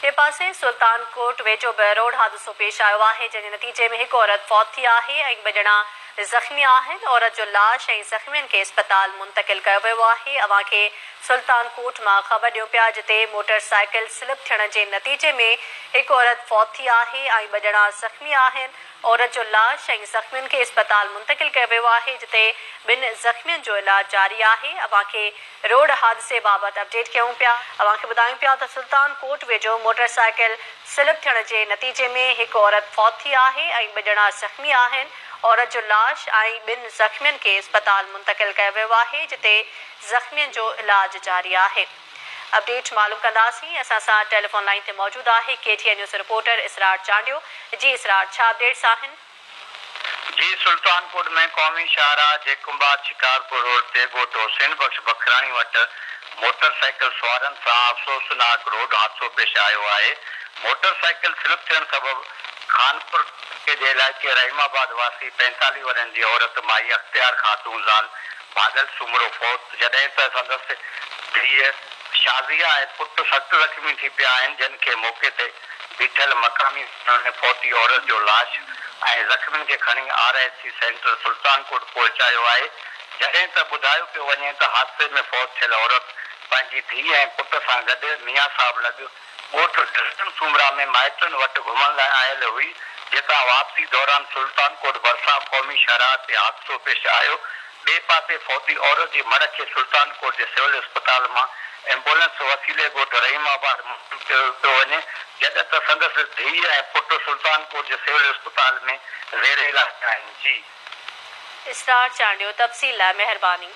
ٻئي پاسي سلطان ڪوٽ ويجهو به روڊ حادثو پيش آيو آهي، جنهن جي نتيجي ۾ هڪ عورت فوت ٿي آهي ۽ ٻه ڄڻا زخمي آهن، عورت جو لاش ۽ زخمين کي اسپتال منتقل ڪيو ويو آهي، اوهان کي سلطان ڪوٽ مان خبر ڏيون پيا جتي موٽر سائيڪل سلپ ٿيڻ جي نتيجي ۾ هڪ عورت فوت ٿي آهي ۽ ٻه ڄڻا زخمي آهن، عورت جو لاش ۽ زخمين کي اسپتال منتقل ڪيو ويو آهي جتي ٻن زخمين جو علاج جاري آهي اوهان کي روڊ حادثي بابت اپڊيٽ ڪيون پيا اوهان کي ٻڌايون پيا ته سلطان ڪوٽ ويجهو موٽر سائيڪل سلپ ٿيڻ جي نتيجي ۾ هڪ عورت فوت ٿي آهي ۽ ٻه ڄڻا زخمي آهن عورت جو لاش ۽ ٻن زخمين کي اسپتال منتقل ڪيو ويو آهي جتي زخمين جو علاج جاري آهي. اپڊيٽ معلوم ڪنداسين اسان سان ٽيليفون لائين تي موجود آهي K T N news reporter Israr Chandio جي اسرار ڇا اپڊيٽس آهن. جي سلطان ڪوٽ ۾ قومي شاهراهه جي ڪنڀار شڪارپور روڊ تي ڳوٺ حسين بخش بکراڻي وٽ موٽر سائيڪل سوارن سان افسوسناڪ روڊ حادثو پيش آيو آهي موٽر سائيڪل سلپ ٿيڻ سبب خانپور ٽڪي جي علائقي رحيم آباد واسي پينتاليهه ورهين جي عورت مائي اختيار خاتون زال ڀاڳل سومرو فوت، جڏهن ته سندس ڌيء شازيه ۽ پٽ سخت زخمي ٿي پيا آهن، جن کي موقعي تي بيٺل مقامي ماڻهن ۾ فوتي عورت جو لاش ۽ زخمين کي کڻي R H C centre Sultan Kot پهچايو آهي، جڏهن ته ٻڌايو پيو وڃي ته حادثي ۾ فوت ٿيل عورت پنهنجي ڌيء ۽ پٽ سان گڏ ميان صاحب لڳ. ڳوٺ ڊسٽن سومرا ۾ مائٽن وٽ گهمڻ لاء آيل هئي، جتان واپسي دوران سلطان ڪوٽ ڀرسان قومي شاهراهه تي حادثو پيش آيو، ٻئي پاسي فوتي عورت جي مڙهه کي سلطان ڪوٽ جي سول اسپتال مان ايمبولنس وسيلي ڳوٺ رحيم آباد منتقل ڪيو پيو وڃي، جڏهن ته سندس ڌيء ۽ پٽ سلطان ڪوٽ جي سول اسپتال ۾ زير علاج آهن. جي. اسرار چانڊيو تفصيل لاء مهرباني.